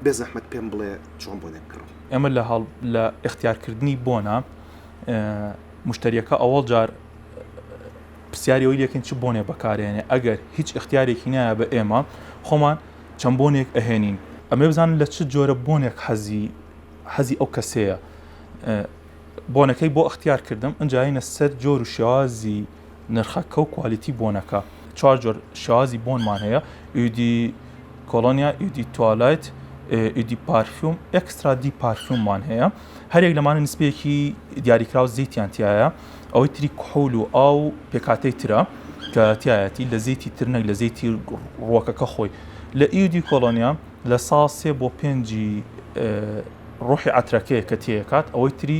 بێزەحمەت پێم بڵێ چۆن بۆنێک بکڕم. ئێمە لە لە ئیختیار کردنی بۆنە مشتەریەکە ئەوەڵ جار پرسیاری ئەوی لەکەین چ بۆنێ بەکارێنێ ئەگەر هیچ اختیارێکی نایە بە ئێمە خۆمان چەند بۆنێک ئەهێنین ئەمێ بزانن لە چ جۆرە بۆنێک حەزی حەزی ئەو کەسەیە بۆنەکەی بۆ اختیار کردم ئەجاینە سەر جۆر و شێوازی نرخەکە و کوالیتی بۆنەکە چوار جۆر شێوازی بۆنمان هەیە ئیدی کۆلۆنیا ئیدی توالایت ئیدی پارفیوم ئەکسترا دی پارفیوممان هەیە هەرێک لەمانە نسبەیەکی دیاریکراو زیتیان تایە ئەوەی تری کحول و ئاو پێکاتەی ترە کە تایەتی لە زیتی ترنەک لە زیتی ڕوەکەکە خۆی لە ئیدی کۆلۆنیا لە ساڵ سێ بۆ پێنجی ڕۆحی عترەکەیە کە تێکات ئەوەی تری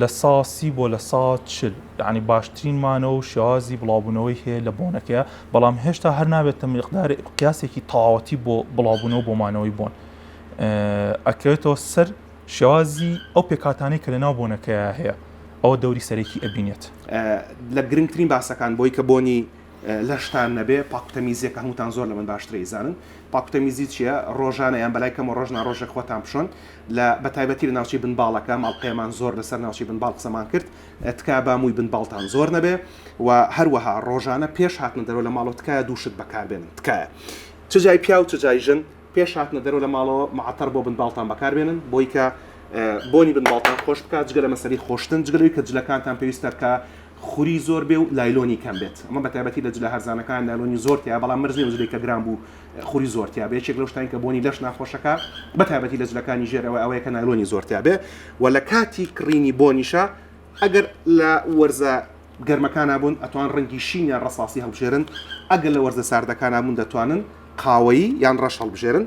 لە سا سی بۆ لە سا چل یعنی باشترین مانەوە و شێوازی بڵاوبوونەوەی هەیە لە بۆنەکەیە بەڵام هێشتا هەر نابێتە مقدار قیاسێکی تەواوەتی بۆ بڵاوبوونەوە بۆ مانەوەی بۆن ئەکەوێتەوە سەر شێوازی ئەو پێکاتانەی کە لە ناو بۆنەکەیە هەیە ئەوە دەوری سەرەکی ئەبینێت. لە گرنگترین باسەکان بۆی کە بۆنی لەشتان نەبێ پاکوتەمیزیەکە هەمووتان زۆر لەمن باشترە ئیزانن پاکوتەمیزی چیە ڕۆژانە یان بەلای کەمە ڕۆژ ناڕۆژێک خۆتان بشۆن لە بەتایبەتی لە ناوچی بن باڵەکە ماڵقەیەمان زۆر لەسەر ناوچی بن باڵ قسەمان کرد تکا با مووی بن باڵتان زۆر نەبێ و هەروەها ڕۆژانە پێش هاتنە دەرەوە لە ماڵەوە تکایە دووشت بەکاربێنن تکایە چ جای پیا و چ جای ژن پێش هاتنە دەرەوە لە ماڵەوە معتەر بۆ بن باڵتان بەکاربێنن بۆیکە بۆنی بن باڵتان خۆش بکات جگە لە مەسەری خۆشتن جگەلەوەی کە جلەکانتان پێویستە کە خوری زۆر بێ و لایلۆنی کەم بێت ئەمە بەتایبەتی لە جلە هەرزانەکان لایلۆنی زۆر تیایە بەڵام مەرج نیە و جلێکە گران بوو خوری زۆر تیابێ یەکێک لەو شتانەی کە بۆنی لەش ناخۆشەکا بەتایبەتی لە جلەکانی ژێر ئەوە ئەوەیە کە نایلۆنی زۆر تیابێ و لە کاتی کڕینی بۆنیشا ئەگەر لە وەرزە گەرمەکانا بوون ئەتوان ڕەنگی شین یان ڕەساسی هەڵبژێرن ئەگەر لە وەرزە ساردەکانا بوون دەتوانن قاوەیی یان ڕەش هەڵبژێرن.